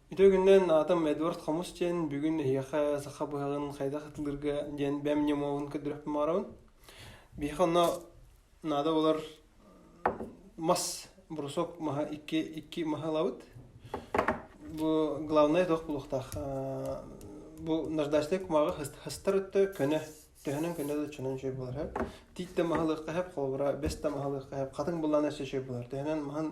Ити үгүннэн аатым Эдуард Хомус диэн, бүгүн эһиэхэ саха быһаҕын хайдах атыылыырга диэн бэм ньымабын көрдөрүөхпүн баҕарабын. Биһиэхэ онно наада буолар мас, брусок маһа икки, икки маһы ылабыт. Бу главнай туох буолуохтаах? Бу наждачнай кумааҕы хастар өттө көнө, төһөнөн көнө да чонон чөй буолар эһэп. Тиит да маһы ылыахха эһэп, холобура, бэс да маһы ылыахха эһэп, хатыҥ буллаан өссө чөй буолар. Төһөнөн маһын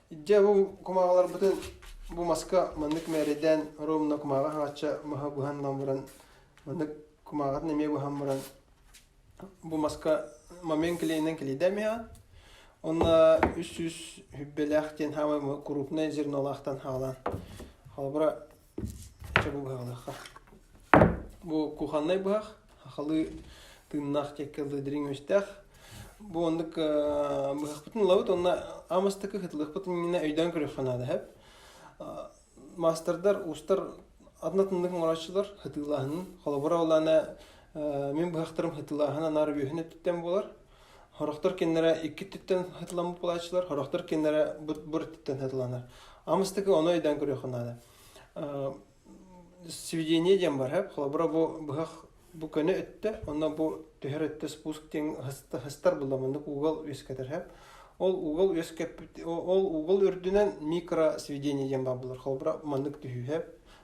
Дьэ бу кумааҕыларбытын бу маска маннык мээрэдээн ровно кумааҕы хаачча маһа буһан ылан баран маннык кумааҕытын эмиэ буһан баран бу маска момент клеенинэн клейдаем иһэҕин Онно үс сүүс хүббэлээх диэн хаамай крупное зернолаахтан хаалаан. Холобура, Чэ бу быһаҕалаахха. Бу кухоннай быһах, ахалыы тыыннаах тиэккэ дылы дириҥ үөстээх. Бу оннук э, быһахпытын ылабыт уонна аамастакы хытылыкпытын иннинэ өйдөөн көрүөххэ наада эһэп. Маастардар уустар атынатыннык оҥорооччулар хытыылааһынын. Холобура ол аана э, мин быһахтарым хытыылааһын анаар үөһүн өттүттэн буолар. Хорохтор кинилэрэ иккиттэн хатыламмыт буолааччылар, хорохтор кинилэрэ быт-быртыттан хатыланар. Амыстыгы ону өйдөөн көрүөххэ наада. Сведение диэн бар хап, холобура бу быһах бу көне өттө, онно бу түһэр өттө спуск диэн хастар булламыннык угол үөскэтэр хап. Ол угол үөскэппит ол угол үрдүнэн микро сведение диэн бар булар. Холобура маннык түһүү хап.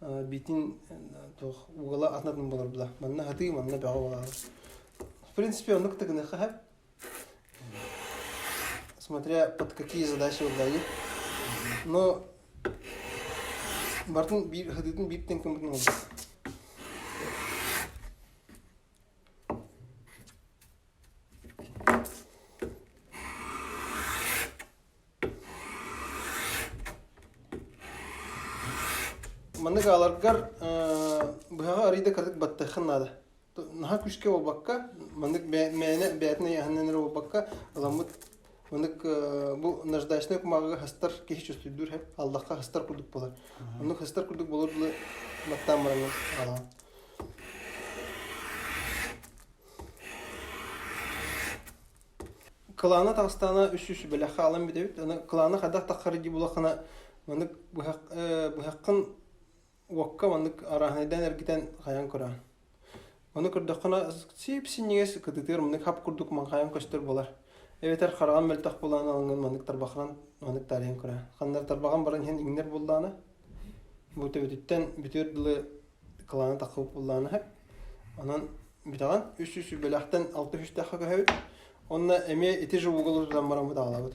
битин туох угала атнатын болорбула манна хатыы манна бөҕө болар в принципе онук так не хахап смотря под какие задачи удали но бартын биир хатыытын биир тенкемутун олбут Маннык ааларгар быһаҕа арыйда кырдык баттахын наада. Наһа күшке болбакка, маннык мээнэ бээтин айаһынан эрэ болбакка, аламмыт Онук бу наждачнай кумааҕыга хастар киһи чувствуйдуур һэм аллахха хастар курдук болор. Оннук хастар курдук болор дылы маттаан бараҥҥын аалаҕын. Кылаана таастаана үс үс бэлэх хаалан бүтэбит. Аны кылаана хадах таххары ди булаххана маннык быһах быһаххын уокка маннык арааһынайдаан эргитэн хайан көрөөн Ону көрдөххүнэ, сип-синньигэс кытытыыр маннык хап курдук маҥхайан көстөр буолар. Эбэтэр хараҕын мөлтөх булаан алынган маннык тарбахынан маннык таарыйан көрөөн. Ханнар тарбаҕын баран иһэн иҥнэр буллаана. Бу төбөтүттэн бүтүөр дылы кылааны тахпыт буллаана үһү. Онон бүтэҕин үс үс үбэлэхтэн алта үстэххэ көһөбүт. Онно эмиэ ити же уголу тутан бараммыт аҕалабыт.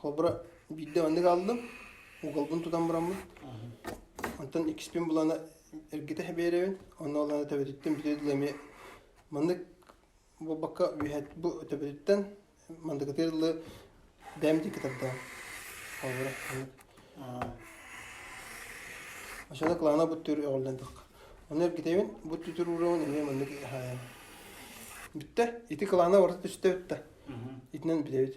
Холобура, биирдэ маннык ааллым, уголбун тутан бараммын. Онтон иккиспин булана эргитэ хабиэрэбин, онно олана төбөтүттэн бүтэ дылы эмиэ маннык буолбакка үөһэ бу төбөтүттэн мандыкытыыр дылы бэм диэки тардаҕым. Холобура маннык. Ошоно кылаана бу түр өҕүллэн тахха. Ону эргитэбин, бу түтүр уурабын эмиэ маннык хаайам. Бүттэ, ити кылаана барыта түсте бутта. Итинэн билэбит.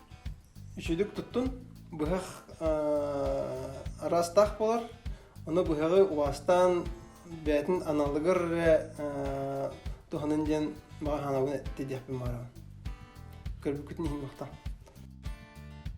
Үчүдүк туттун, быһах араастаах буолар. Ону быһаҕы убаастаан бэйэтин аналыгар эрэ туһанын диэн баҕа санаабын эттэ диэхпин баҕарабын. Көрбүккүтүн иһин буохтаах.